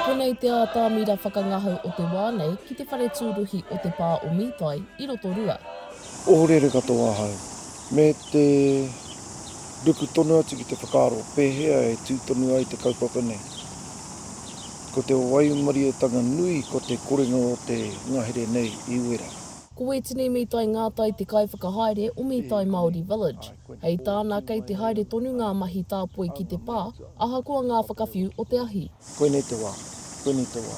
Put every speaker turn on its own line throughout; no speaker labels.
Konei te ātamira whakangahau o te wā nei ki te whare tūruhi o te pā o Mītai i Rotorua. Ohorere
katoa ahau, me te ruku tonu atu ki te whakaaro pēhea e tū tonu ai te kaupapa nei. Ko te waimarietanga nui ko te korenga o te ngahere nei i wera. Ko Wētene
Mītai Ngātai te kaiwhakahaere o Mītai Māori Village. Hei tāna kei te haere tonu ngā mahi tāpoi ki te pā, ahakoa ngā whakawhiu o te ahi. Koinei te wā,
koinei te wā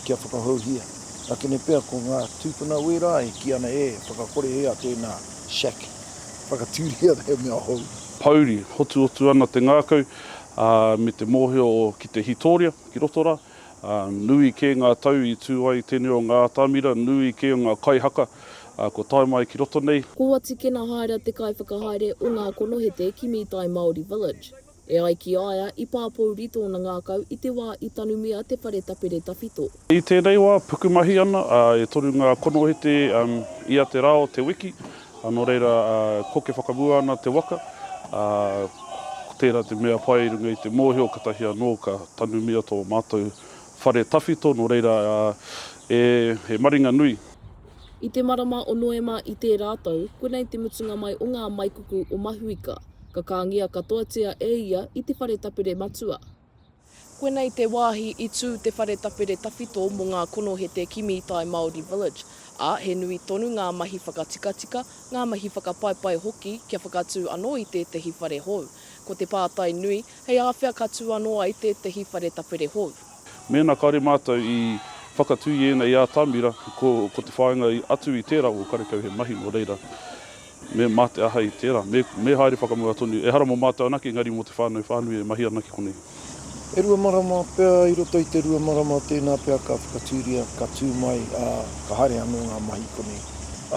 kia whakahouhia. Akene pea ko ngā tūpuna wērā e kī ana e whakakorehia tēnā shack, whakatūria he mea hou. Pouri, hotuhotu
ana te ngākau. Ā, me te mōhio ki te Hitoria, ki roto rā, ā, nui kē ngā tau i tū ai tēnei o ngā atamira, nui kē o ngā kaihaka, ā, kua tae mai ki roto nei. Ko Watikena Haera
te kaiwhakahaere o ngā konohete ki Mītai Māori Village. E ai ki a ia, i pāpouri tōna ngākau i te wā i tanumia te whare tapere tawhito. I tēnei wā,
pukumahi ana, e toru ngā konohete ia te rā o te wiki, nō reira, koke whakamua ana te waka, ā, ko tērā te mea pai i runga i te mōhio katahi anō ka tanumia tō mātou whare tawhito, nō reira, e, he maringa nui. I te
marama o Noema i tērā tau, konei te mutunga mai o ngā maikuku o Mahuika, ka kāngia katoatia e ia i te whare tapere matua. Koinei te wāhi i tū te whare tapere tawhito mō ngā konohete ki Mītai Māori Village, ā, he nui tonu ngā mahi whakatikatika, ngā mahi whakapaipai hoki kia whakatū anō i tētehi whare hou. Ko te pātai nui, hei āwhea ka tū anō ai tētehi whare tapere hou? Mēnā kāore
mātou i whakatū i ēnei atamira, ko te whāinga atu i tērā o karekau he mahi nō reira, Me mate ahau i tērā. Me, me haere whakamua tonu. Ehara mō mātou anake, engari mō te whānau whānui e mahi ana ki konei. E rua
marama pea, i roto i te rua marama tēnā pea ka whakatūria, ka tū mai, ā, ka haere anō ngā mahi i konei.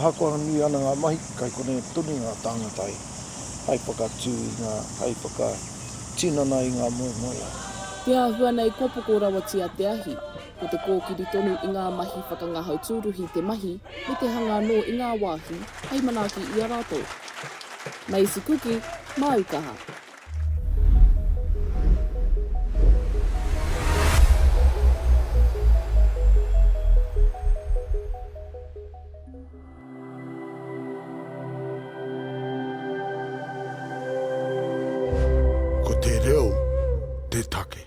Ahakoa nui ana ngā mahi, kai konei tonu ngā tāngata hei, hei whakatū i ngā, hei whakatinana i ngā moemoeā. Te āhua
nei kua poko rawatia te ahi, ko te kōkiri tonu i ngā mahi whakangahau tūruhi te mahi me te hanga anō i ngā wāhi hei manaaki i a rātou. Maize cookie, māu kaha. Ko te reo te take.